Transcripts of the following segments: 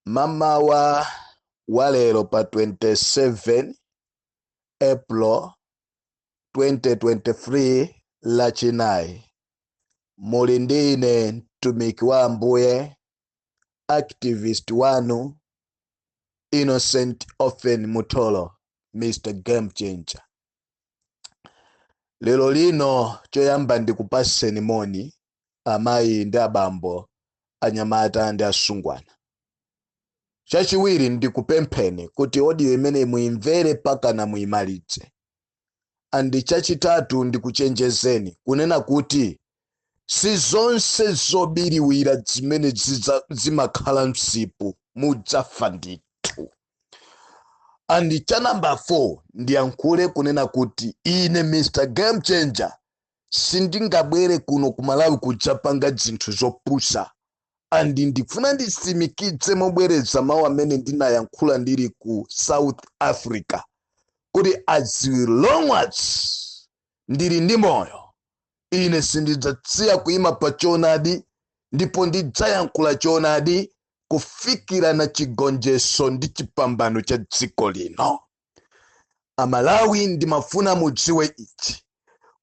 mamawa wa lero pa 27 april 2023 lachinayi muli ndi ine mtumiki wa ambuye activist wanu innocent ofen mutolo mr game changer lero lino choyamba ndikupaseni moni amayi ndi abambo, anyamata ndi asungwana. Chachiwiri, ndikupempheni kuti audio imeneyi muimvere pakana muimalidze. And chachitatu, ndikuchenjezeni kunena kuti si zonse zobiriwira zimene zimakhala msipu mudzafa ndithu. And cha number 4 ndiyankhule kunena kuti ine Mr Game Changer sindingabwere kuno ku malawi kudzapanga zinthu zopusa and ndifuna ndisimikidze mobwereza mawu amene ndinayankhula ndili ku south africa kuti as long as ndili ndi moyo ine sindidzasiya kuima pa choonadi ndipo ndidzayankhula choonadi kufikira na chigonjeso ndi chipambano cha dziko lino amalawi ndimafuna mudziwe ichi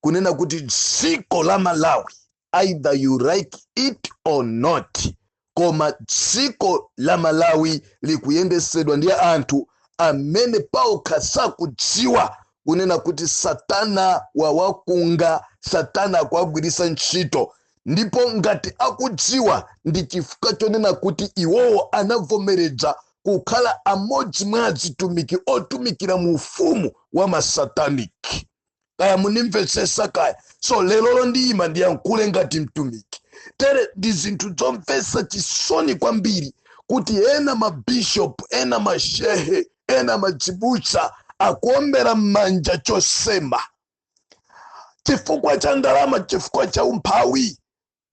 kunena kuti dziko la malawi either you like it or not koma dziko la malawi likuyendesedwa ndi anthu amene paokha sakudziwa kunena kuti satana wawakunga satana akuwagwirisa ntchito ndipo ngati akudziwa ndi chifukwa chonena kuti iwowo anavomereza kukhala amodzi mwa azitumiki otumikira mu ufumu wa masataniki kaya mundimvetsesa kaya so lelolo ndiyima ndiyankhule ngati mtumiki tere ndi zinthu zomvesa chisoni kwambiri kuti ena mabishop ena mashehe ena madzibusa akuombera m'manja chosema chifukwa cha ndalama chifukwa cha umphawi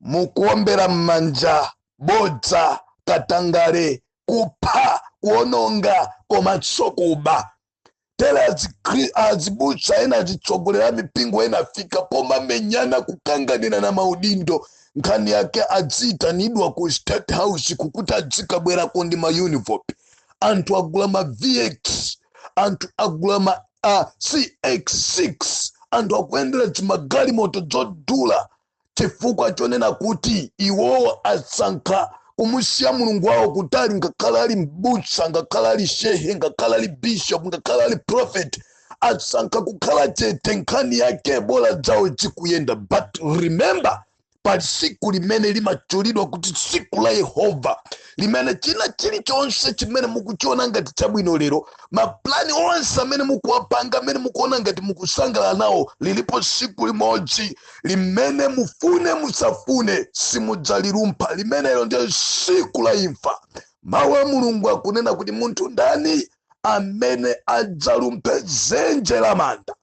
mukuombera m'manja bodza katangale kupha kuononga komanso kuba tere azibusa ena azitsogolera mipingo ena afika pomamenyana kukanganira na maudindo nkhani yake adziitanidwa ku state house kukuti adzikabwerako ndi mauniform anthu agula ma vx anthu agula ma CX6 anthu akuyendera dzimagalimoto dzodula chifukwa chonena kuti iwowo asankha kumusiya mulungu wawo kutali ngakhale ali m'busa ngakhale ali shehe ngakhale ali bishop ngakhale ali prophet asankha kukhala chete nkhani yake bola dzawo zikuyenda but remember pa tsiku limene limatchulidwa kuti tsiku la yehova limene china chilichonse chimene mukuchiona ngati chabwino lero mapulani onse amene mukuwapanga amene mukuona ngati mukusangalala nawo lilipo tsiku limodzi limene mufune musafune simudzalilumpha limenelo ndiye tsiku la imfa mawu a mulungu akunena kuti munthu ndani amene adzalumphe dzenje la manda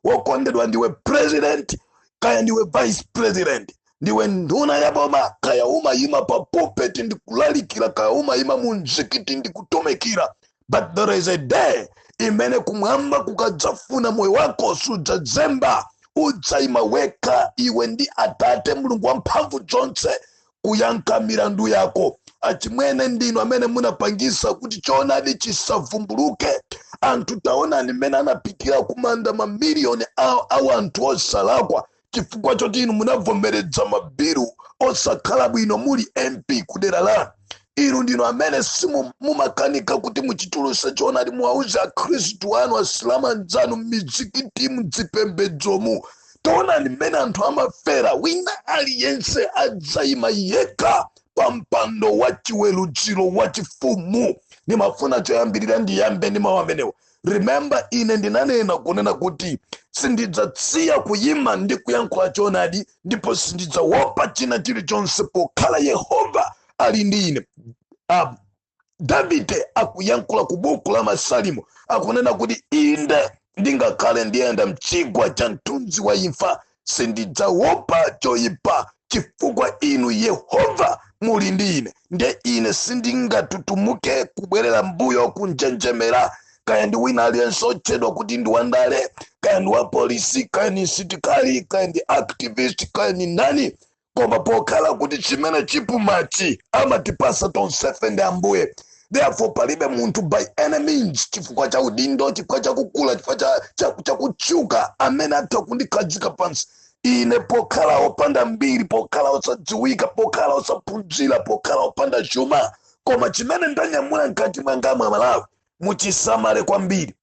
wokondedwa ndiwe president kaya ndiwe vice president ndiwe nduna ya boma kaya umayima pa pulpit ndikulalikira kaya umayima mu mzikiti ndikutumikira but there is a day imene kumwamba kukadzafuna moyo wako sudzazemba udzayima wekha iwe ndi atate mulungu wamphamvu zonse kuyankha milandu yako achimwene ndinu amene munapangisa kuti choonadi chisavumbuluke anthu taonani mmene anapitira kumanda mamiliyoni a anthu osalakwa chifukwa choti inu munavomereza mabilu osakhala bwino muli mp kudera lanu inu ndinu amene simumakanika kuti muchituluse choonadi muwauze akhristu anu asilamu anzanu m'mizikiti mzipembedzomu taonani mmene anthu amafera wina aliyense adzayima yekha pa mpando wa chiweruziro wa chifumu ndimafuna choyambirira ndiyambe ndi mawu amenewo remember ine ndinanena kunena kuti sindidzasiya kuyima ndi kuyankhula choonadi ndipo sindidzawopa china chilichonse pokhala yehova ali ndi ine davide akuyankhula ku buku la masalimo akunena kuti inde ndingakhale ndiyenda mchigwa cha mthunzi wa imfa sindidzawopa choyipa chifukwa inu yehova muli ndi ine nde ine sindingatutumuke kubwerera mbuyo kunjenjemera kaya ndi wina aliyense otchedwa kuti ndi wandale kaya ndi wapolisi kaya ndi msitikali kaya ndi activist kaya ndi nani koma pokhala kuti chimene chipumachi amatipasa tonsefe ndi ambuye therefore palibe munthu by any means chifukwa cha udindo chifukwa cha kukula chifukwa cha kutchuka amene atha kundikhazika pansi ine pokhala opanda mbiri pokhala osadziwika pokhala osaphunzira pokhala opanda chuma koma chimene ndanyamula mkati mwanga amalawi muchisamale kwambiri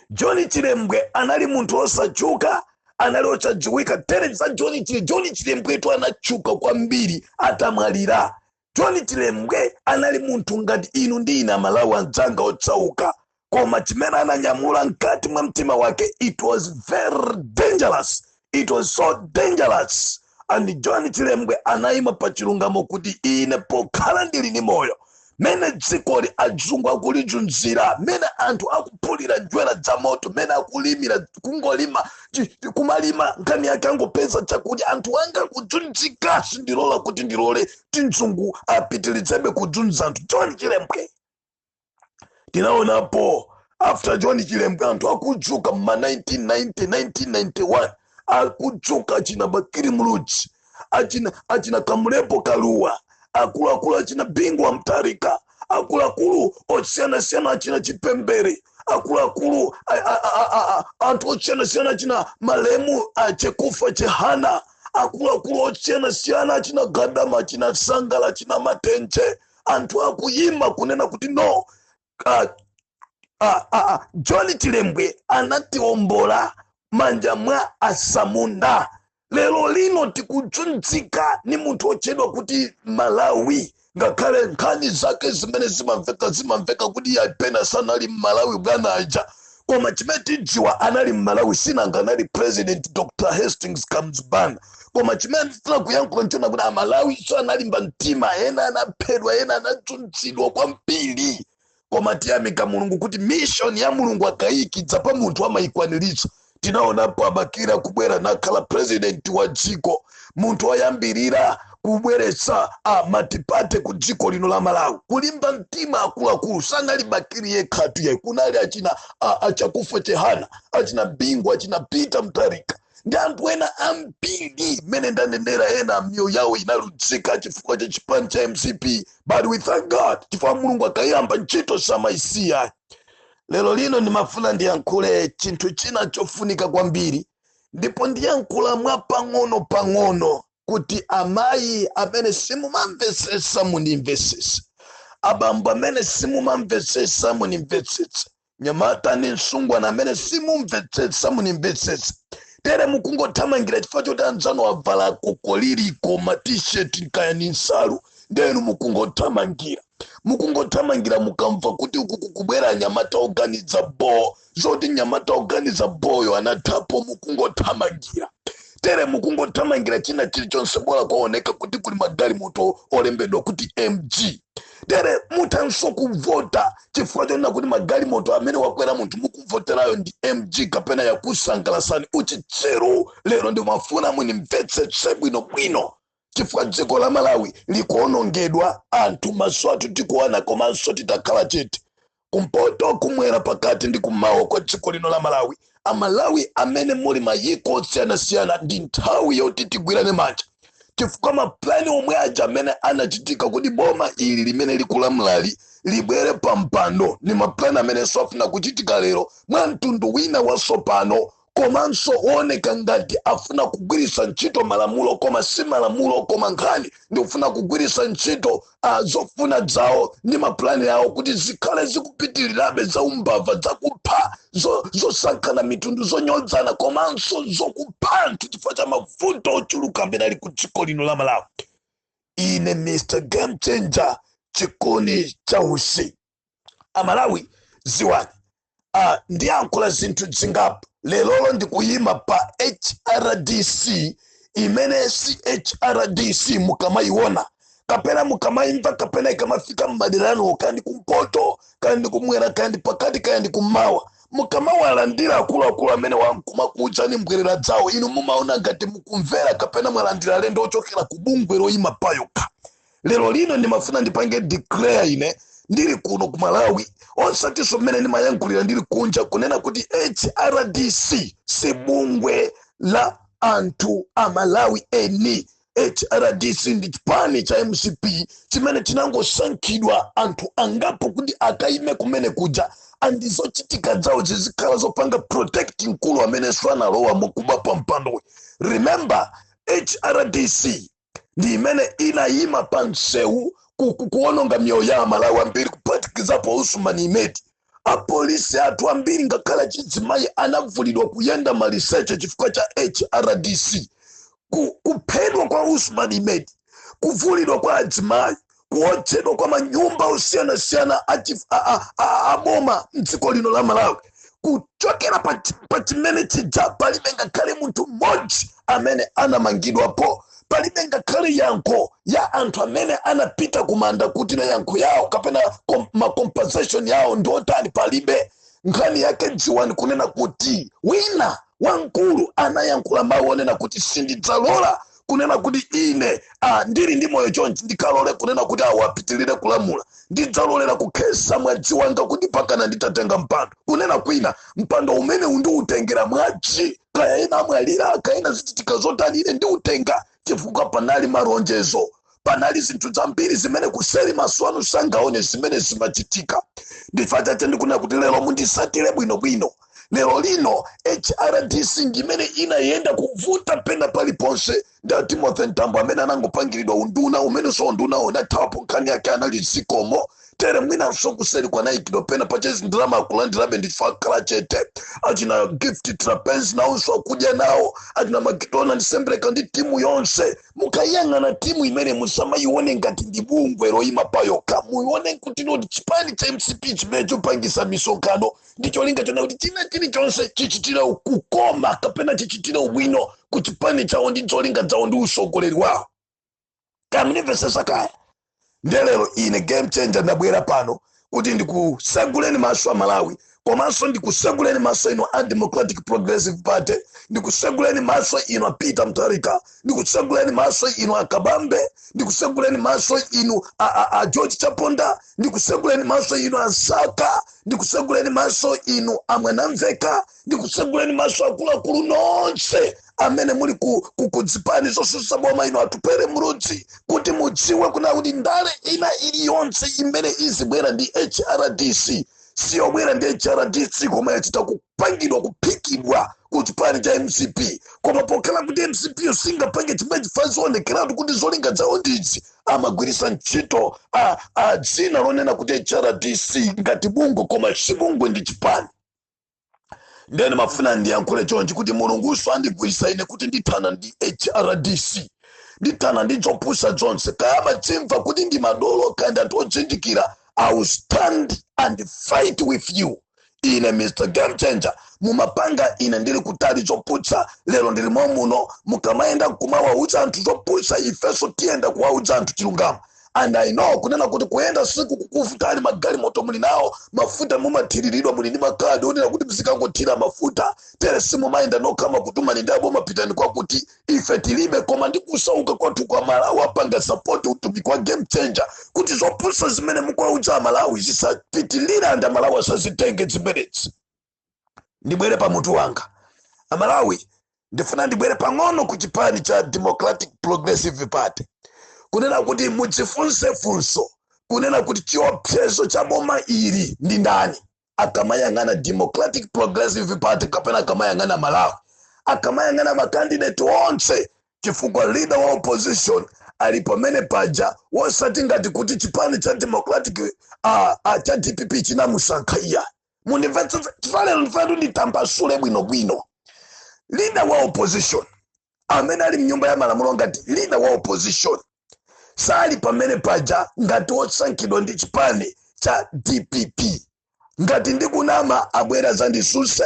john chilembwe anali munthu osatchuka anali osadziwika tere za john chilembwetu anatchuka kwambiri atamwalira john chilembwe anali munthu ngati inu ndi ine amalawi anzanga osauka koma chimene ananyamula mkati mwa mtima wake it was very dangerous It was so dangerous. And John Chilembwe anayima pa chilungamo kuti ine pokhala ndili ndi moyo mene dzikoli adzungu akulichunzira mene anthu akuphulira njwera dza moto mene akulimira kungolima chi- chi- kumalima nkhani yake angopeza chakudya anthu anga akudzunzika sindilola kuti ndilole tidzungu apitilizebe kudzunza anthu John Chilembwe tinaonapo after john chilembe anthu akudzuka mma 1990 1991 akudzuka achina bakiri mludzi achina, achina kamulepo kaluwa akuluakulu achina bingu wa mtarika akuluakulu osiyanasiyana achina chipembere akuluakulu a- a- a- a- a- anthu osiyanasiyana achina malemu achekufa chehana akuluakulu osiyanasiyana achina gadama achina sangala achina matenje anthu akuyima kunena kuti no uh, uh, uh, john chilembwe anatiombola manja mwa asamunda lero lino tikudzunzika ni munthu wotchedwa kuti malawi ngakhale nkhani zake zimene zimamveka zimamveka kuti kapena sanali mmalawi bwana aja koma chimene tidziwa anali mmalawi sinanga anali president dr hastings kamuzu banda koma chimene ndifuna kuyankhula nchonena kuti amalawinso analimba mtima ena anaphedwa ena anadzunzidwa kwambiri koma tiyamika mulungu kuti mission ya mulungu akayikidza pa munthu amayikwaniritsa tinaonapo a bakili kubwera nakhala president wa dziko munthu woyambirira kubweretsa matipate ku dziko lino la malawi kulimba mtima akuluakulu sanali bakili yekhatu yayi kunali achina a- achakufwa chihana achina bingu achina peter mutharika ndi anthu ena ambiri mmene ndanenera ena miyoyo yawo inaluzika chifukwa cha chipani cha mcp but we thank god chifukwa mulungu akayamba ntchito samayisiya lero lino ndimafuna ndiyankhule chinthu china chofunika kwambiri ndipo ndiyankhula mwa pang'ono pang'ono kuti amayi amene simumamvetsetsa mundimvetsetse abambo amene simumamvetsetsa mundimvetsetse nyamata ndi msungwana amene simumvetsetsa mundimvetsetse tere mukungothamangira chifukwa choti anzanu avala kokoliriko matisheti kaya ndi nsalu nde inu mukungothamangira mukungothamangira mukamva kuti uku kukubwera anyamata oganiza boo zoti nyamata oganiza booyo anathapo mukungothamangira tere mukungothamangira china chilichonse bola kwaoneka kuti kuli magalimoto olembedwa kuti mg tere muthanso kuvota chifukwa chonena kuti magalimoto amene wakwera munthu mukuvoterayo ndi mg kapena yakusangalasani uchitsiru lero ndimafuna munimvetsetse bwinobwino chifukwa dziko la malawi likuonongedwa anthu maso athu tikuona komanso titakhala chete kumpoto kumwera pakati ndi kumawa kwa dziko lino la malawi amalawi amene muli mayiko osiyanasiyana ndi nthawi yoti tigwirane manja chifukwa mapulani omwe aja amene anachitika kuti boma ili limene likulamulali libwere pa mpando ni mapulani amenenso akufuna kuchitika lero mwa mtundu wina wasopano komanso wooneka ngati afuna kugwiritsa ntchito malamulo koma si malamulo koma nkhani ndikufuna kugwiritsa ntchito uh, zofuna zawo ndi mapulani awo kuti zikhale zikupitirirabe za umbava zakupha zo- zosankhana mitundu zonyodzana komanso zokupha anthu chifukwa cha mavuto ochuluka amene ali ku dziko lino la malawi ine mr game changer chikuni cha usi amalawi ziwani uh, ndiyankhula zinthu zingapo lelolo ndikuyima pa hrdc imene si hrdc mukamayiona kapena mukamayimva kapena ikamafika m'madera anu kandi kumpoto kandi kumwera kandi pakati kandi kummawa mukamawalandira akuluakulu amene ankumakuudzani mbwerera dzawo inu mumaona ngati mukumvera kapena mwalandira alendo ochokera ku bungwe loyima payokha lero lino ndimafuna ndipange declare ine ndili kuno ku malawi osatinso mmene ndimayankhulira ndili kunja kunena kuti hrdc si bungwe la anthu a malawi eni hrdc ndi chipani cha mcp chimene chinangosankhidwa anthu angapo kuti akayime kumene kuja andi zochitika zawo zizikhala zopanga protect mkulu amenenso analowa mwakuba pa mpandowe remember hrdc ndi imene inayima pa msewu ku- ku- kuononga miyoyo ya amalawi ambiri kuphatikizapo usman imedi apolisi athu ambiri ngakhale achizimayi anavulidwa kuyenda maliseche chifukwa cha hrdc ku, kuphedwa kwa usman imedi kuvulidwa kwa adzimayi kuotchedwa kwa manyumba osiyanasiyana aboma mdziko lino la malawi kuchokera pa chimene chija palibe ngakhale munthu mmodzi amene anamangidwapo palibe ngakhale yankho ya anthu amene anapita kumanda kuti na yankho yawo kapena kom, macompensation yawo ndi otani palibe nkhani yake dziwani kunena kuti wina wamkulu anayankhula mawu onena kuti sindidzalola kunena kuti ine a ndili ndi moyo chonchi ndikalole kunena kuti awo apitirire kulamula ndidzalolera kukhesa mwaji wanga kuti pakana nditatenga mpando kunena kuti ine mpando umeneu ndiutengera mwaji kaya ena amwalira kaya ena zichitika zotani ine ndiutenga chifukwa panali malonjezo panali zinthu zambiri zimene kuseri maso anu sangaone zimene zimachitika ndi chifukwa chache ndikunena kuti lero mundisatire bwinobwino lero lino hrdc ndimene inayenda kuvuta pena paliponse ndi a timothy mtambo amene anangopangiridwa unduna umenenso undunawo anathawapo nkhani yake anali zikomo tere mwinanso kuseri kwina aikidwa pena pa cheza ndalama akulandirabe nde akhala chete achina gift trapence nawoso akudya nawo achina macdonald sembereka ndi timu yonse mukayang'ana timu imene musamayione ngati ndi bungwe loyima palokha muyione kuti ndi chipani cha mcp chimene chopangisa misonkhano ndi cholinga chona kuti china chilichonse chichitire kukoma kapena chichitire ubwino ku chipani chawo ndi zolinga zawo ndi usogoleri wawo mukundimvesesa kaya nde lero ine game changer ndabwera pano kuti ndikuseguleni maso a malawi komanso ndikuseguleni maso inu a democratic progressive party ndikuseguleni maso inu a peter mutharika ndikuseguleni maso inu a kabambe ndikuseguleni maso inu a, a, a george chaponda ndikuseguleni maso inu a msaka ndikuseguleni maso inu a mwanamvekha ndikuseguleni maso akuluakulu nonse amene muli ku, ku, ku zipani zosusa boma inu atupele muluzi kuti mudziwe kuna kuti ndale ina iliyonse imene izibwera ndi hrdc siyobwera ndi hrdc koma yachita kupangidwa kuphikidwa ku chipani cha mcp koma pokhala kuti mcp yo singapange zimenezi chifa zionekeratu kuti zolinga zawo ndizi amagwirisa ntchito a, a dzina lonena kuti hrdc ngati bungwe koma si bungwe ndi chipani nde ndimafuna ndiyankhule chonchi kuti mulungunso andigwirisa ine kuti ndithana ndi hrdc ndithana ndi zopusa zonse kaya mumadzimva kuti ndi madolo kaya ndi anthu odzindikira i will stand and fight with you ine mr game changer mumapanga ine ndili kutali zopusa lero ndili mom'muno mukamayenda kumawauza anthu zopusa ifenso tiyenda kuwauza anthu chilungamo and i know kunena kuti kuyenda sikukukuvutani magalimoto muli nawo mafuta mumathiriridwa muli ndi makadi onena kuti mzikangothira mafuta tere simumayenda nokha amakutumani ndi aboma pitani kwakuti ife tilibe koma ndi kusauka kwathu koma amalawi apanga sapoti utumiki wa game changer kuti zopusa zimene mukwauza amalawi zisapitilire and amalawi asazitenge zimenezi ndibwere pa mutu wanga amalawi ndifuna ndibwere pang'ono ku chipani cha democratic progressive party kunena kuti mudzifunse funso kunena kuti chiopsezo cha boma ili ndi ndani akamayang'ana democratic progressive party kapena akamayang'ana malawi akamayang'ana makandideti onse chifukwa leader wa opposition ali pamene paja wosati ngati kuti chipani cha democratic uh, uh, cha dpp chinamusankha iyayi mundimvetsetse chifukwa lero ndifuna kuti nditambasule bwinobwino leader wa opposition amene ali mnyumba ya malamulo ngati leader wa opposition sali pamene paja ngati wosankhidwa ndi chipani cha dpp ngati ndikunama abwere azandisuse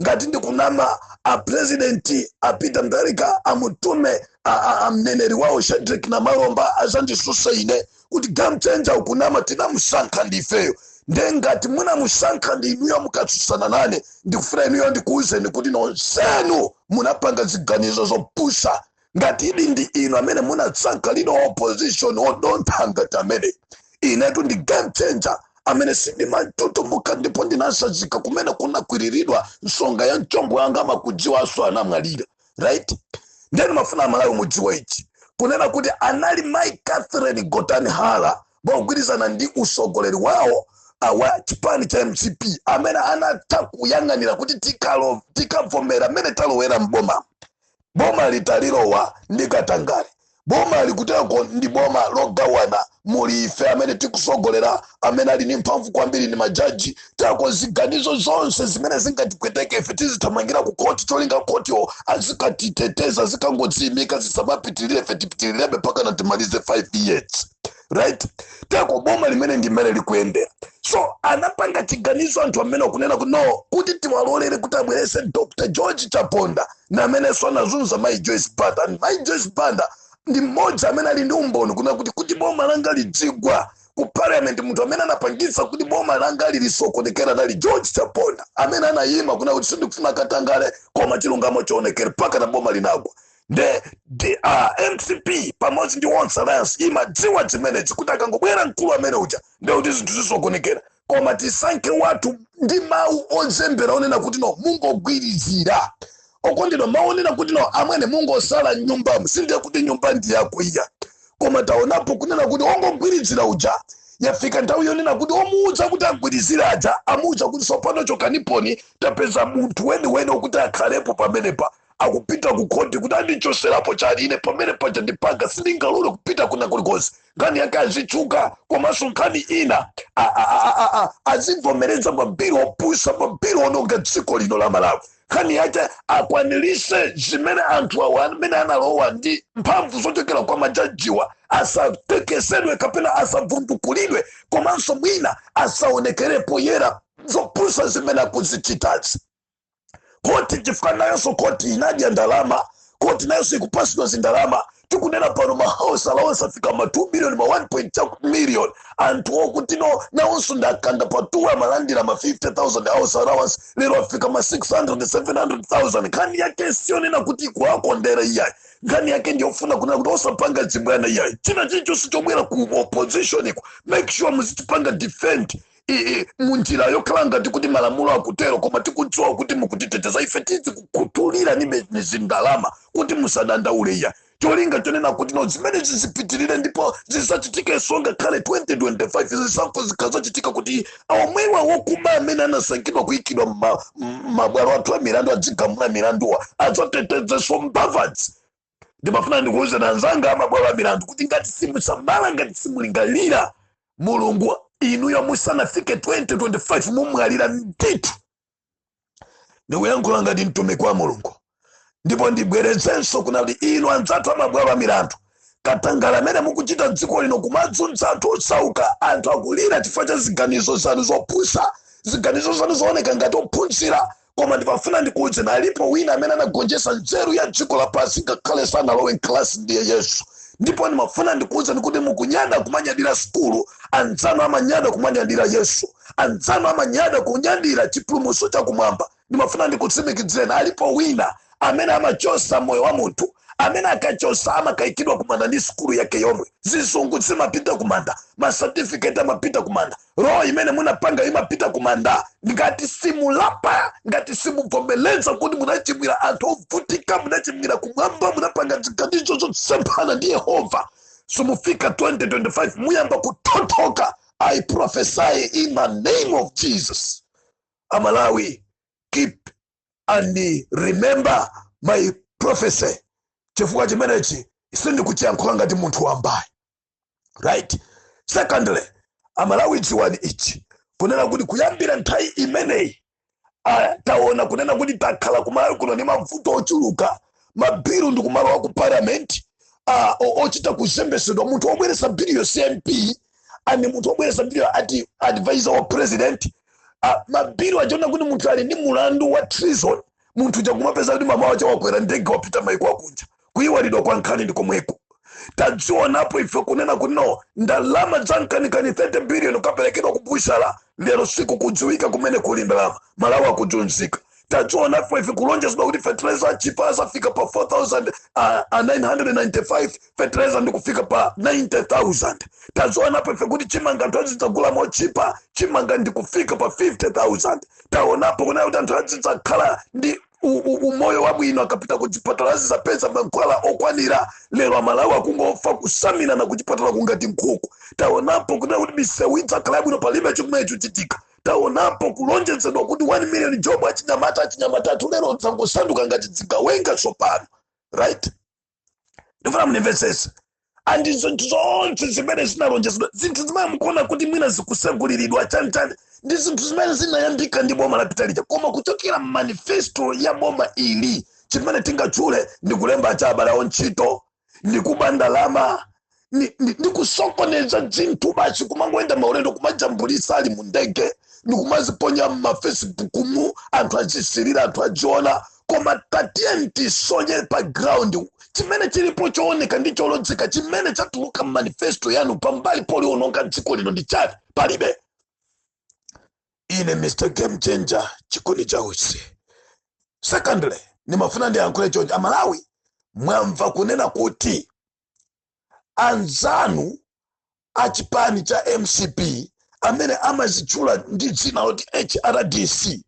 ngati ndikunama a president a peter mutharika amutume a- a- a mneneri wawo shadric namalomba azandisuse ine kuti game changer ukunama tinamusankha ndifeyo nde ngati munamusankha ndi inuyo mukatsutsana nane ndikufuna inuyo ndikuwuzeni kuti nonsenu munapanga ziganizo zopusa ngati muli ndi inu amene munasankha leader of opposition odontha ngati ameneyi inetu ndi game changer amene sindimatutumuka ndipo ndinasazika kumene kunakwiriridwa nsonga ya mchombo yanga amakudziwanso anamwalira right nde ndimafuna amalawi mudziwe ichi kunena kuti anali mai catherine gotani hara mogwirizana ndi usogoleri wawo ah, wa chipani cha mcp amene anatha kuyang'anira kuti tikalo- tikavomera mmene talowera mboma bomali talilowa ndi katangale bomali kuteroko ndi boma logawana muli ife amene tikusogolera amene ali ndi mphamvu kwambiri ndi majaji teko ziganizo zonse zimene zingatipweteke ife tizithamangira ku khoti cholinga khotiwo azikatiteteza zikangodziyimika zisamapitirire ife tipitirirebe mpaka na timalize 5 years right teko bomali mmene ndi mmene likuyendera so anapanga chiganizo anthu amene akunena kuti no kuti tiwalolere kuti abwerese dr george chaponda na amenenso anazunza mai joyce banda and mai joyce banda ndi mmodzi amene ali ndi umboni kunena kuti kuti boma langa lidzigwa ku parliament munthu amene anapangitsa kuti boma langa lisokonekere anali george chaponda amene anayima kunena kuti sindikufuna katangale koma chilungamo chionekere mpaka na boma linagwa nde mcp pamodzi ndi tonse alliance imadziwa zimenezi kuti akangobwera mkulu amene uja nde kuti zinthu zisokonekera koma tisankhe wathu ndi mawu ozembera onena kuti no mungogwirizira okondedwa mawu onena kuti no amwene mungotsala nyumbamu si ndiye kuti nyumba ndi yako iyayi koma taonapo kunena kuti ongogwirizira uja yafika nthawi yonena kuti omuuza kuti agwirizire aja amuuza kuti tsopano chokaniponi tapeza munthu weniweni okuti akhalepo pamenepa akupita ku khoti kuti andichoserapo chani ine pamene paja andipanga sindingalole kupita kwina kulikonse nkhani yake azitchuka komanso nkhani ina a- a- a- a- a- azivomereza mabilu opusa mabilu ononga dziko lino la malawi nkhani yake akwanirise zimene anthu awa amene analowa ndi mphamvu zochokera kwa majajiwa asatekesedwe kapena asavundukulidwe komanso mwina asaonekerepo yera zopusa zimene akuzichitazi koti chifukwa nayonso koti inadya ndalama koti nayonso ikupatsidwa zindalama tikunena pano mahouse allowance afika ma 2 million ma 1 million anthu okuti no nawonso nda kandapatuwe amalandira ma 50000 house allowance lero afika ma 600 700000 nkhani yake siyonena kuti kuwakondera iyayi nkhani yake ndiyofuna kunena kuti osapanga dzibwana iyayi china chilichonse chobwera ku opposition iko make sure muzitipanga defend munjira yokhala ngati kuti malamulo akutero koma tikudziwa kuti mukutiteteza ife tizikukhutulirani zindalama kuti musadandaule iya cholinga chonena kuti no zimene zizipitirire ndipo zizachitikenso ngakhale 2025 zisankho zikazachitika kuti omwewa wokuba amene anasankhidwa kuyikidwa mma- m- mabwalo athu a milandu adzigamula milanduwa adzatetezenso mbavazi ndimafuna ndikuwuzeni anzanga amabwalo a milandu kuti ngati simusamala ngati simulingalira mulungu inuyo musanafike 2025 mumwalira ndithu ndikuyankhula ngati mtumiki wa mulungu ndipo ndibwerezenso kuna kuti inu anzathu amabwalo a milandu katangale amene mukuchita dziko lino kumazunza anthu osauka anthu akulira chifukwa cha ziganizo zanu zopusa ziganizo zanu zooneka ngati ophunzira koma ndimafuna ndikuuzeni alipo wina amene anagonjetsa nzeru ya dziko lapansi ngakhale sanalowe mkalasi ndiye yesu ndipo ndimafuna ndikuuzeni kuti mukunyada kumanyadira sukulu anzanu amanyada kumanyadira yesu anzanu amanyada kunyadira chipulumutso chakumwamba ndimafuna ndikutsimikizeni alipo wina amene amachosa moyo wa munthu amene akachosa amakayikidwa kumanda ndi sukulu yake yomwe zizungu zimapita kumanda masatifiketi amapita kumanda roho imene munapanga imapita kumanda ngati simulapa ngati simuvomereza kuti munachimwira anthu ovutika munachimwira kumwamba munapanga ziganizo zosemphana ndi yehova simufika 2025 muyamba kuthothoka i prophesy in the name of jesus amalawi keep and remember my prophecy chifukwa chimenechi sindikuchiyankhula ngati munthu wamba ayi right secondly amalawi dziwani ichi kunena kuti kuyambira nthawi imeneyi ah, taona kunena kuti takhala kumalawi kuno ndi mavuto ochuluka mabilu ndi kumalowa ku parliament ah, o- ochita kuzembesedwa munthu wobweresa bilu yo cmp and munthu wobweresa bilu yo ati advisor wa president ah, mabilu taona kuti munthu ali ndi mulandu wa treason munthu uja kumapeza kuti mmawa wacha wakwera ndege wapita maiko akunja kuyiwalidwa kwa nkhani ndi komweko tadzionapo ife kunena kuti no ndalama za nkanikani 30 biliyoni kaperekedwa ku butchery lero sikukudziwika kumene kuli ndalama malawi akuzunzika tadzionapo ife kulonjezedwa kuti fertilizer achipa azafika pa 4995 fetereza ndikufika pa 90000 tazionapo ife kuti chimanga anthu azidzagula mochipa chimanga ndikufika pa 50000 taonapo kunena kuti anthu azidzakhala ndi u- u- umoyo wabwino akapita ku chipatala azidzapeza mankhwala okwanira lero amalawi akungofa kusamina na kuchipatala kungati nkhuku taonapo kunena kuti misewu idzakhala yabwino palibe chimene chochitika taonapo kulonjezedwa kuti 1 million job achinyamata achinyamata athu lero angosanduka ngati zigawenga tsopano right ndifuna mundimvetsese and zinthu zonse zimene zinalonjezedwa zinthu zimene mukuona kuti mwina zikuseguliridwa chanichani ndi zinthu zimene zinayambika ndi boma lapita lija koma kuchokera manifesto ya boma ili chimene tingatchule ndi kulemba cha abale awo ntchito ndi kuba ndalama ni, ni, ni kusokoneza zinthu basi kumangoenda maulendo kumajambulisa ali mundege ndikumaziponya mumafacebook mu anthu azisilira anthu aziona koma tatiyeni tisonye pa ground chimene chilipo chooneka ndi cholodzeka chimene chatuluka mmanifesto yanu pambali poononga dziko lino ndi chani palibe ine mr game changer chikuni cha usi secondly nimafuna ndiyankhule chonchi amalawi mwamva kunena kuti anzanu a chipani cha mcp amene amazitchula ndi dzina loti hrdc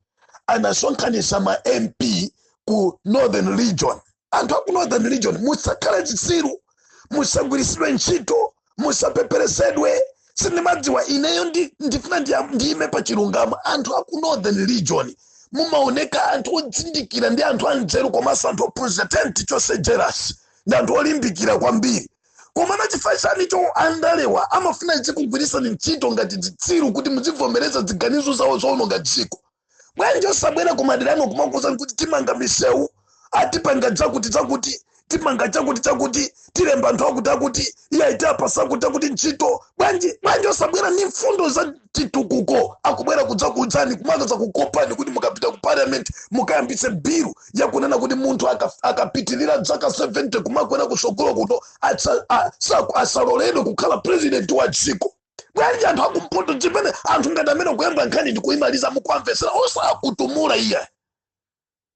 anasonkhanitsa ma mp ku northern region anthu aku northern region musakhale zitsiru musagwiritsidwe ntchito musapeperetsedwe sindimadziwa ineyo ndi- ndifuna ndiya- ndiyime pa chilungamo anthu aku northern region mumaoneka anthu odzindikira ndi anthu anzeru komanso anthu ophunzira tenti chonse jealous ndi anthu olimbikira kwambiri koma na chifukwa chani cho andalewa amafuna azikugwirisani ntchito ngati zitsiru kuti muzivomereza ziganizo zawo zoononga dziko bwanji osabwera kumaderano kumakuuzani kuti timanga misewu tipanga chakuti chakuti timanga chakuti chakuti tilemba anthu akuti akuti iyayi tapasa akuti akuti ntchito bwanji bwanji osabwera ni mfundo za chitukuko akubwera kudzakuuzani kumadzakukopani kuti mukapita ku parliament mukayambitse bilu yakunena kuti munthu aka- akapitirira dzaka 70 kumakwera kusogolo kuno atsa- a- sa- asaloledwe kukhala president wa dziko bwanji anthu akumpoto chimene anthu ngati amene akuyamba nkhani ndi kuyimaliza mukuwamvetsera osakutumula iye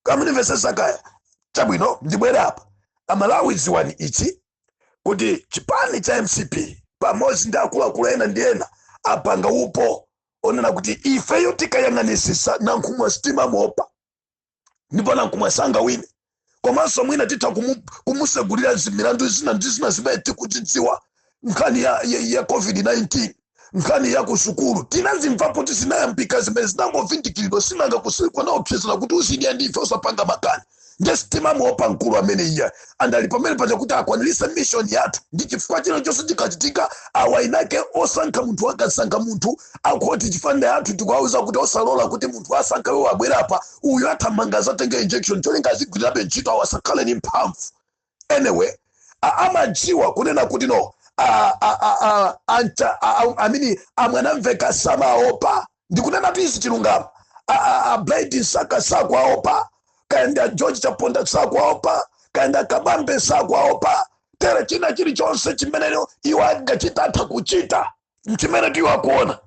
kaya munimvetsesa kaya chabwino ndibwere apa amalawi dziwani ichi kuti chipani cha mcp pamodzi ndi akuluakulu ena ndi ena apanga upo onena kuti ifeyo tikayang'anisisa nankhumwa sitimamuopa ndipo nankumwa sangawine komanso mwina titha kumu- kumusegulira zimilandu zina ndi zina zimene tikudzidziwa nkhani ya, ya, ya covid-19 nkhani ya kusukulu tinazimvapo kuti zinayambika zimene zinangovindikiridwa zinangokwiliridwa naopsezera kuti uzidya ndife usapange makani nde sitimamuopa mkulu amene iya ndiye ali pamene paja kuti akwanirise mission yathu ndi chifukwa china chilichonse chikachitika awa inake osankha munthu akasankha munthu akuti chifanda yathu tikuwauza kuti osalola kuti munthu asankha iwo abwera apa uyu athamanga azatenge injection cholinga azigwirirabe ntchito awa asakhale ni mphamvu anyway a- amadziwa kunena kuti no a- a- a- a- anta- a- a- amini amwanamveka samaopa ndikunena tu izi chilungamo A- a- a Bright Msaka sakwaopa kaenda George Chaponda sakwaopa kaenda Kabambe sakwaopa tere china chilichonse chimene iwo angachita atha kuchita mchimene tiwo akuona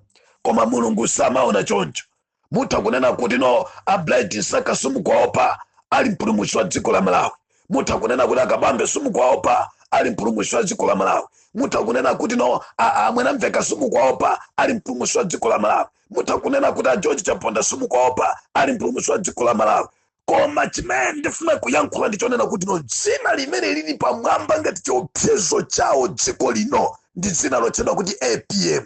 koma mulungu samaona choncho mutha kunena kuti no a Bright Msaka simukwaopa ali mpulumutsi wa dziko la malawi mutha kunena kuti a Kabambe simukwaopa ali mpulumusi wa dziko la malawi mutha kunena kuti no a- a- a Mwanamvekha simukwaopa ali mpulumusi wa dziko la malawi mutha kunena kuti a George Chaponda simukwaopa ali mpulumusi wa dziko la malawi koma chimene ndifuna kuyankhula ndichonena kuti no dzina limene lili pamwamba ngati chiopsezo chawo dziko lino ndi dzina lotchedwa kuti apm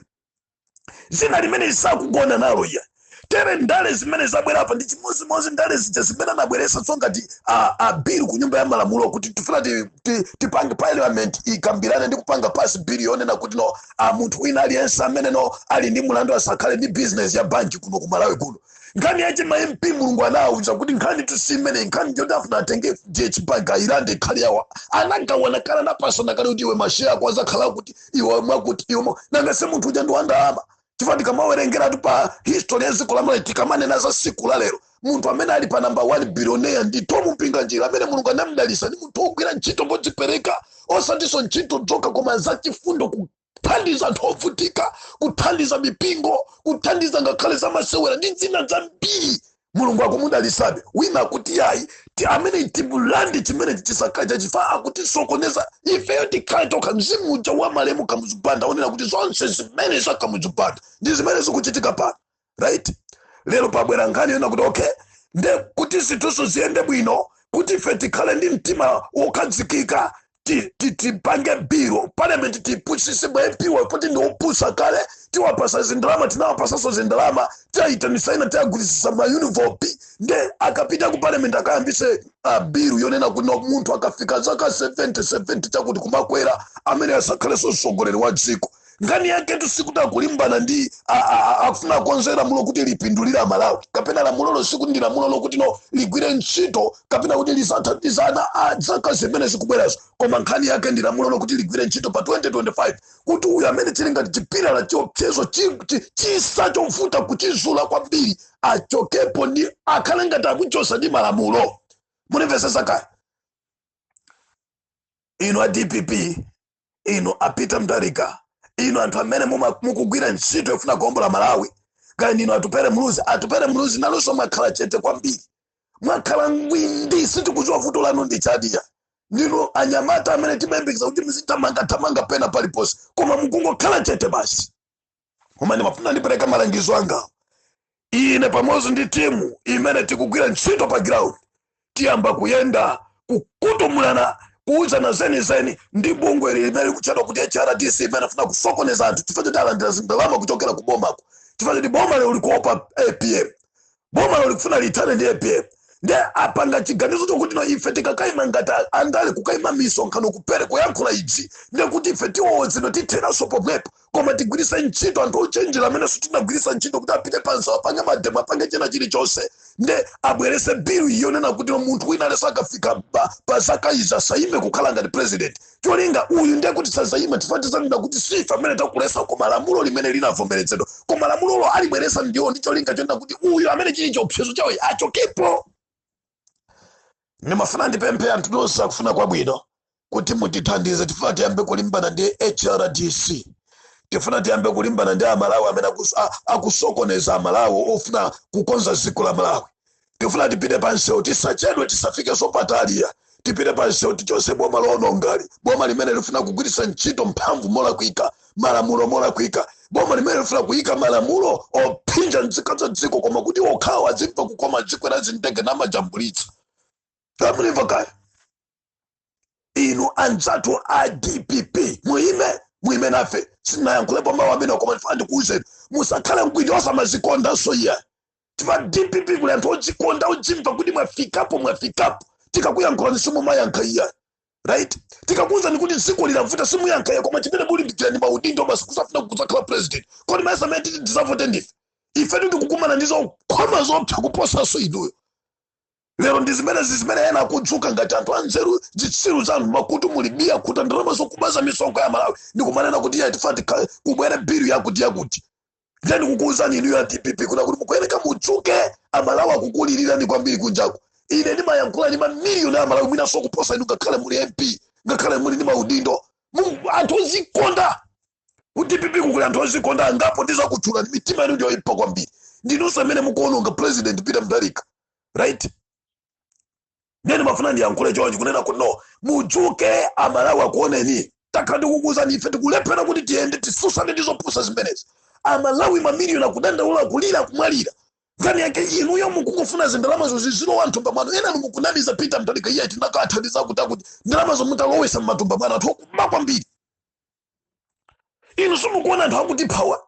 dzina limene sakugona nalo iya tere ndale zimene zabwera apa ndi chimodzimodzi ndale zija zimene anabweretsanso ngati a, a bill ku nyumba ya malamulo kuti tifuna ti- ti- tipange parliament ikambirane ndi kupanga pass bill yonena kuti no a munthu wina aliyense amene no ali ndi mulandu asakhale ndi business ya banki kuno ku malawi kuno nkhani yache ma mp mulungu anawauza kuti nkhani tusimene nkhani yoti afuna atenge FDH bank ayilande ikhale yawo anagawana kale anapasana kale kuti iwe masheya ako azakhala akuti iwe mwakuti iwe mwa- nanga se munthu uja ndi wandalama chifukwa tikamawerengeratu pa history ya dziko lamalawi tikamanena za siku la lero munthu amene ali pa namba 1 bilioneya ndi Thom Mpinganjira amene mulungu anamdalisa ndi munthu wogwira ntchito modzipereka osatinso ntchito zokha koma zachifundo kuthandiza anthu ovutika kuthandiza mipingo kuthandiza ngakhale zamasewera ndi zina zambiri mulungu akumudalisabe wina akuti yayi iii amene timulande chimenechi chisakhale chake chifukwa akutisokoneza ifeyo tikhale tokha mzimu uja wa malemu Kamuzu Banda onena kuti zonse zimene za Kamuzu Banda ndi zimene zikuchitika pano right lero pabwera nkhani yonena kuti okay nde kuti zinthuzo ziyende bwino kuti ife tikhale ndi mtima wokhazikika ti- ti- tipange bill parliament tiwapusise ma MP-wa poti ndi opusa kale tiwapasa zindalama tinawapasaso zindalama tiwaitanisa ena tiwagwirisisa ma envelope nde akapita ku parliament akayambise uh, bill yonena kuti no munthu akafika zaka 70 70 chakuti kumakwera amene asakhaleso mtsogoleri wa dziko nkhani yaketu sikuti akulimbana ndi a- a- a- akufuna akonze lamulo kuti lipindulire amalawi kapena lamulolo sikuti ndi lamulo lokuti no ligwire ntchito kapena kuti lizathandize ana a zaka zimene zikubwerazo koma nkhani yake ndi lamulo lokuti ligwire ntchito pa 2025 kuti uyu amene ali ngati chipilala chiopsezo chi- chi- chitsa chovuta kuchizula kwambiri achokepo nde akhale ngati akuchosa ndi malamulo munimvesesa kaya inu a dpp inu a Peter Mutharika inu anthu amene muma- mukugwira ntchito yofuna kuombola malawi kaya ndinu Atupele Muluzi Atupele Muluzi nanunso mwakhala chete kwambiri mwakhala ngwindi sitikudziwa vuto lanu ndi chani kaya ndinu anyamata amene timayembekeza kuti muzithamangathamanga pena paliponse koma mukungokhala chete basi koma ndimafuna ndipereka malangizo anga ine pamodzi ndi timu imene tikugwira ntchito pa ground tiyamba kuyenda kukhutumulana kuuzana zenizeni ndi bungwe limene likutchedwa kuti hrdc imene afuna kusokoneza anthu chifukwa choti alandira zindalama kuchokera ku bomako chifukwa choti boma lero likuopa apm bomalo likufuna lithane ndi apm nde apanga chiganizo chokuti no ife tikakaima ngati a- andale kukaima misonkhano kupere kuyankhula idzi nde kuti ife tiwowozidwa titheraso pomwepo koma tigwiritse ntchito anthu ochenjera amenenso tinagwiritsa ntchito kuti apite pansi apange mademo apange china chilichonse nde abwerese bill yonena kuti no munthu wina aliyense akafika pa- pa zaka izi asayime kukhala ngati president cholinga uyu ndiye kuti sazayima chifukwa tizanena kuti sife amene takulesa koma lamulo limene linavomerezedwa koma lamulolo alibweresa ndiwo ndi cholinga chonena kuti uyu amene chili chiopsezo chawo achokepo ndimafuna ndipemphe anthu nonse akufuna kwabwino kuti mutithandize tifuna tiyambe kulimbana ndi hrdc tifuna tiyambe kulimbana ndi amalawi amene akusokoneza amalawi ofuna kukonza dziko la malawi tifuna tipite pa msewu tisachedwe tisafikeso pataliya tipite pa msewu tichose boma loonongali boma limene lifuna kugwiritsa ntchito mphamvu molakwika malamulo molakwika boma limene lifuna kuyika malamulo ophinja nzika za dziko lino kuti okhawo azimva kukoma kukwera zindege namajambulitsa tamulimva kaya inu anzathu a dpp muyime muyime nafe sindinayankhulepo mawu amenewa koma ndifuna ndikuwuzeni musakhale mkwinyosa mazikondanso iya chifukwa ku dpp kuli anthu odzikonda odzimva kuti mwafikapo mwafikapo tikakuyankhulani simumayankha iya right tikakuwuzani kuti dziko linavuta simuyankha iya koma chimene mulimbikira ndi maudindo basi kuzafuna kudzakhala president kodi mayesa amene titi tizavote ndife ife tikukumana ndi zokhoma zopsa kuposanso inuyo lero ndi zimene zimene ena akudzuka ngati anthu anzeru zitsiru zanu makutu mulibe akhuta ndalama zokubaza misonkho ya amalawi ndikumanena kuti iya tifuna kuti kubwere bill yakuti yakuti nde ndikukuwuzani inuyo a dpp kunena kuti mukuyeneka mudzuke amalawi akukulilirani kwambiri kunjaku ine ndimayankhula ndi mamiliyoni a amalawi mwinanso kuposa inu ngakhale muli mp ngakhale muli ndi maudindo anthu ozikonda ku dpp-ku kuli anthu ozikonda angapo ndizakutchula ndi mitima yanu ndiyoyipa kwambiri ndinunso amene mukuononga president peter mutharika right ndiye ndimafuna ndiyankhule chonchi kunena kuti no mudzuke amalawi akuoneni takhala tikukuuzani ife tikulephera kuti tiyende tisusane ndi zopusa zimenezi amalawi mamiliyoni akudandaula kulira kumwalira nkhani yake inuyo mukungofuna zindalamazo zizilowa mthumba mwanu enanu mukunamiza peter mutharika iye tinakathandiza kuti akuti ndalamazo mutalowesa mmatumba mwanu anthu okuba kwambiri inu simukuona anthu akutiphawa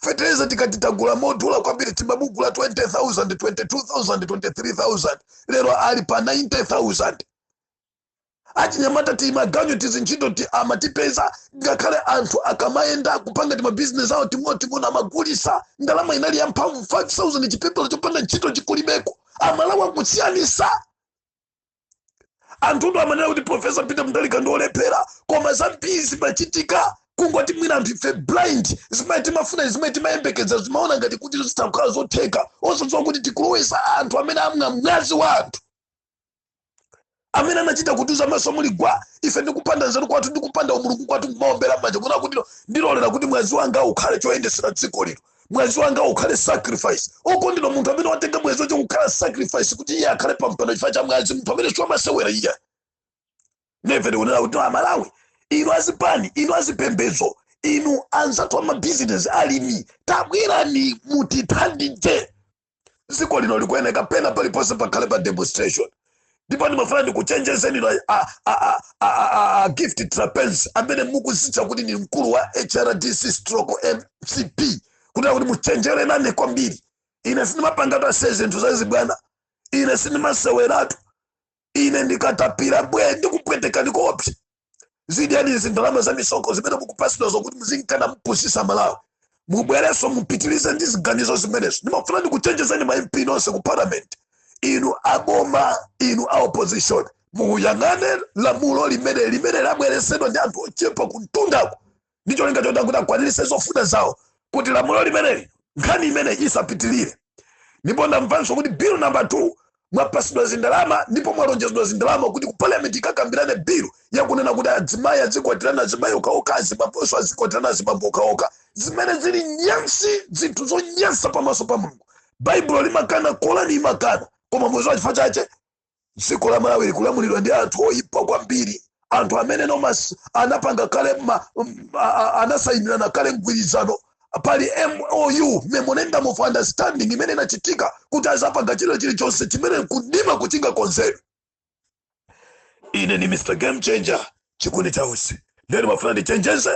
fetereza tikati tagula modula kwambiri timamugula 20000 22000 23000 lero ali pa 90000 achinyamata timaganyu tizintchito ti amatipeza ngakhale anthu akamayenda kupanga timabizinesi awo ting'onoting'ono amagulisa ndalama inali ya mphamvu 5000 chipepala chopanda ntchito chikulibeko amalawi akusiyanisa anthutu amanena kuti profesa peter mutharika ndi olephera koma zambiri zimachitika kungoti mwina anthu ife blind zimene timafuna zimene timayembekeza timaona ngati kuti zitakhala zotheka osadziwa kuti tikulowesa anthu amene amwa mwazi wa anthu amene anachita kutiuza maso muli gwa ife ndikupanda nzeru kwathu ndikupanda umulungu kwathu kumaombera manja kunena kuti ndilolera kuti mwazi wanga ukhale choyendesera dziko lino mwazi wanga ukhale sacrifice okondedwa munthu amene watenga mwazi wace kukhala sacrifice kuti iye akhale pampando chifukwa cha mwazi munthu ameneyu siwamasewera iye ndiye ndikunena kuti amalawi inu azipani inu azipembedzo inu anzathu amabizinesi alimi tabwerani mutithandize dziko lino likuyeneka pena paliponse pakhale pa demonstration ndipo ndimafuna ndikuchenjezeni inu a- a- a- a- a- a- a gift trapence amene mukuzitcha kuti ndi mkulu wa hrdc stroke mcp kutera kuti muchenjere nane kwambiri ine sindimapangatu ase zinthu zazibwana ine sindimaseweratu ine ndikatapira bwe ndikupwetekani koopsa zidyani zindalama za misonkho zimene mukupatsidwa zokuti muzinka napusisa amalawi mubwerenso mupitirize ndi ziganizo zimenezo ndimafuna ndikuchenjezeni ma mp nonse ku parliament inu aboma inu a opposition muyang'ane lamulo limene limene labweresedwa ndi anthu ochepa kumtundako ndi cholinga choti kuti akwaniritse zofuna zawo kuti lamulo limeneli nkhani imeneyi isapitirire ndipo ndamvanso kuti bill namba 2 mwapasidwa zindalama ndipo mwalonjezedwa zindalama kuti ku parliament mukakambirane bill yakunena kuti adzimayi azikwatirana azimayi okhaokha azibamboso azikwatirana azibambo okhaokha zimene zili nyansi zinthu zonyansa pamaso pa mulungu baibulo limakana korani imakana koma mudziwa chifukwa chache dziko la malawi likulamulidwa ndi anthu oyipa kwambiri anthu amene nomas anapanga kale ma- m- a- a- anasayinirana kale mgwirizano pali mou memorandum of understanding imene inachitika kuti azapanga chilo chilichonse chimene kudima kuchinga konzero ine ni mr game changer chikundi chausi nde nimafuna ndichenjeze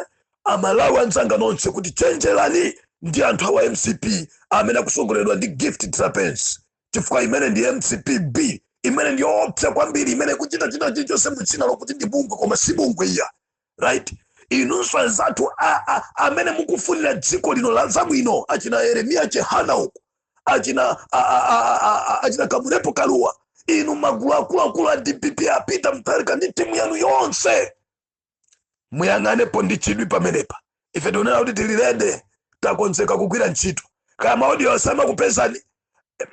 amalawi anzanga nonse kuti chenjerani ndi anthu awa mcp amene akusogoleredwa ndi gift trapence chifukwa imene ndi mcp b imene ndi yoopsa kwambiri imene ikuchita china chilichonse mu dzina lokuti ndi bungwe koma si bungwe iyayi right inunso anzathu a- a- amene mukufunira dziko lino la zabwino achina yeremiya chihana uku achina a- a- a- a- a- achina kamlepo kalua inu magulu akuluakulu a dpp a peter mutharika ndi timu yanu yonse muyang'anepo ndi chidwi pamenepa ife tikunena kuti tili ready takonzeka kugwira ntchito kaya maodiyo samakupezani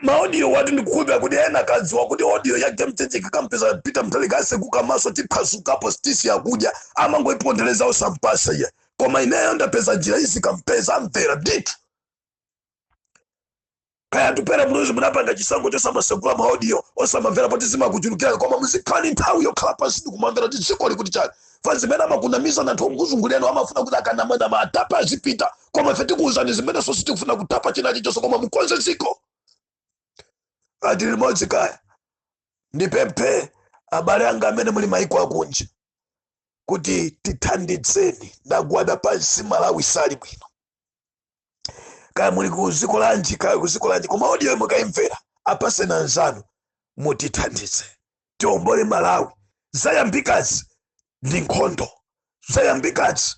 maodiyowatu ndikukhulupira kuti ena akadziwa kuti odiyo ya game changer ikampeza Peter Mutharika atseguka maso tiphasukapo sitisiya kudya amangoipondereza osampatsa iye koma ineyo ndapeza njira izikampeza amvera ndithu kaya Atupele Muluzi munapanga chisankho chosamatsegula maaudio osamamvera poti zimakuchulukirani koma muzikhala ni nthawi yokhala pansi ndikumamvera kuti dziko likuti chani pa zimene amakunamizani anthu okuzungulirani amafuna kuti akanamanama atapa azipita koma ife tikuwuzani zimenenso sitikufuna kutapa chinachi chonse koma mukonze dziko tili limodzi kaya ndipemphe abale anga amene muli maiko akunja kuti tithandizeni ndagwada pansi malawi sali bwino kaya muli ku dziko lanji kaya ku dziko lanji koma audio iyo mukaimvera apatseni anzanu mutithandize tiombole malawi zayambikazi ndi nkhondo zayambikazi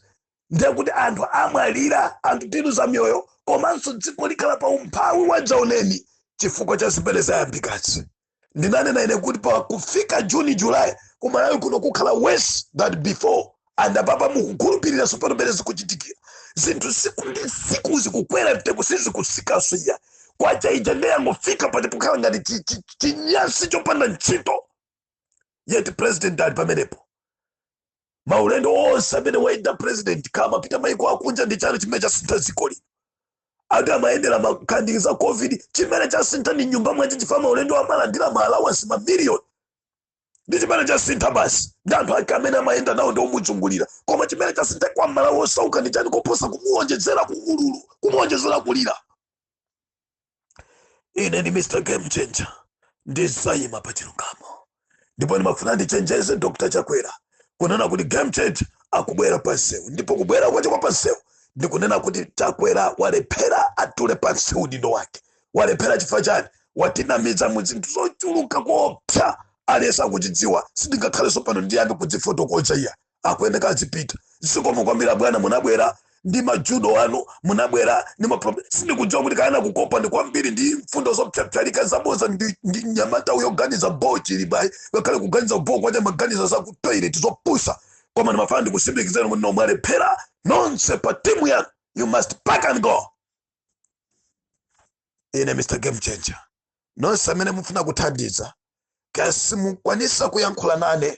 ndiye kuti anthu amwalira anthu tiluza miyoyo komanso dziko likhala pa umphawi wadzaoneni chifukwa cha zimene zayambikazi ndinanena ine kuti pa kufika juni julayi kumalawi kuno kukhala worse than before and apapa mukukhulupirira tsopano mmene zikuchitikira zinthu tsiku ndi tsiku zikukwera mtengo sizikutsikanso iya kwacha ija nde yangofika poti pokhala ngati chi- chi- chinyasi chopanda ntchito yet president ali pamenepo maulendo onse amene wayenda president akamapita maiko akunja ndi chani chimene chasintha dziko lino ati amayendera makamu azaCovid chimene chasintha ndi m'nyumba mwache chifukwa maulendo amalandira ma allowance mamiliyoni ndi chimene chasintha basi ndi anthu ake amene amayenda nawo ndi omuzungulira koma chimene chasintha kwa amalawi osauka ndi chani koposa kumuonjezera ululu kumuonjezera kulira ine ndi mr game changer ndizayima pa chilungamo ndipo ndimafuna ndichenjeze dr chakwera kunena kuti game changer akubwera pansewu ndipo kubwera kwache kwa pansewu ndikunena kuti chakwera walephera atule pansi udindo wake walephera chifukwa chani watinamiza mu zinthu zochuluka koopsa aliyense akuzidziwa sindingakhalenso pano ndiyambe kuzifotokoza iya akuyeneka azipita zikomo kwambiri abwana munabwera ndi majudo anu munabwera ndi maproblem sindikudziwa kuti kaya anakukopani kwambiri ndi mfundo zopsapsalaka zaboza ndi, ndi mnyamata uyo oganiza boo Chilima ngakhale kuganiza boo kwache amaganiza za ku toilet zopusa koma ndimafuna ndikutsimikizireni kuti mwalephera nonse pa timu yanu you must pack and go ine mr game changer nonse amene mufuna kuthandiza kaya simukwanitsa kuyankhula nane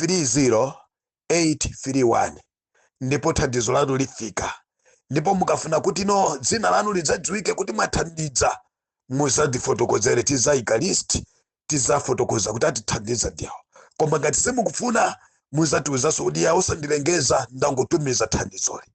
30831 ndipo thandizo lanu lifika ndipo mukafuna kuti no dzina lanu lidzadziwike kuti mwathandiza muzatifotokozere tizaika list tizafotokoza kuti atithandiza ndi awo koma ngati simukufuna muzatiuzanso kuti ya osandilengeza ndangotumiza thandizoli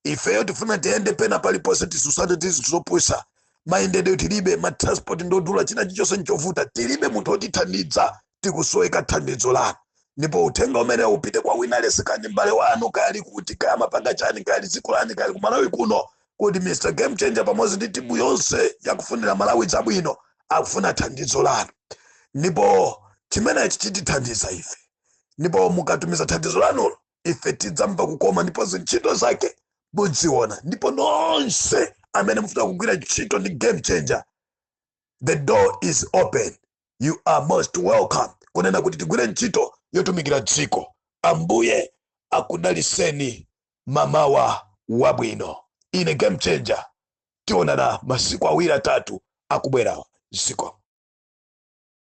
ifeyo tifuna tiyende pena paliponse tisusane tizinthu zopusa mayendedwe tilibe matransport ndodula china chichonse nchovuta tilibe munthu otithandiza tikusoweka thandizo lanu ndipo uthenga umene upite kwa wina aliyense kaya mbale wanu kali kuti kaya amapanga chani kali dziko lani kali kumalawi kuno kuti mr game changer pamodzi ndi timu yonse yakufunira malawi zabwino akufuna thandizo lanu ndipo chimenechi chitithandiza ife ndipo mukatumiza thandizo lanu ife tidzamva kukoma ndipo zintchito zake mudziona ndipo nonse amene mufuna kugwira ntchito ndi game changer the door is open you are most welcome kunena kuti tigwire ntchito yotumikira dziko ambuye akudaliseni mamawa wabwino ine game changer tionana masiku awiri atatu akubwerawa ziko